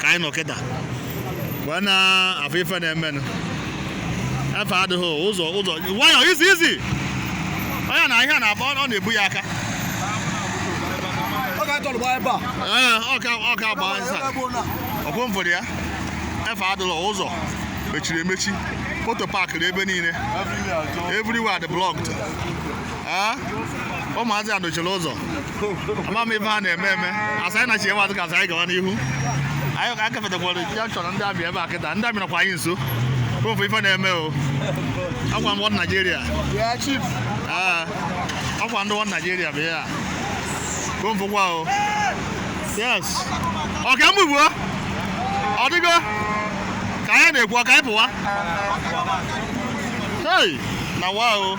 ka anyị nọ kịta wee na-afụ ife na-emenụ efe adịghị ụzọ ụzọ nwayọ easy easy onye na ahịa na-agba ọ na-ebu ya aka ee ọka ọka agba nsa ọkwụ m fụrụ ya efe adịghị ụzọ mechiri emechi moto paakịrị ebe niile everywhere dị blocked ee ụmụazị a dochiri ụzọ ama m ife ha na-eme eme asa anyị na-achị ewe ka asa anyị gawa n'ihu anyị ka akafetakwara ya chọrọ ndị amị ebe a kịta ndị amị nọkwa anyị nso ofe ife na-eme o ọkwa ndị wọd naijiria ọkwa ndị wọd naijiria bụ ya komfụkwa o yes ọka m ugbu ọ dịgo ka anyị na-ekwu ọka anyị pụwa hey na wa o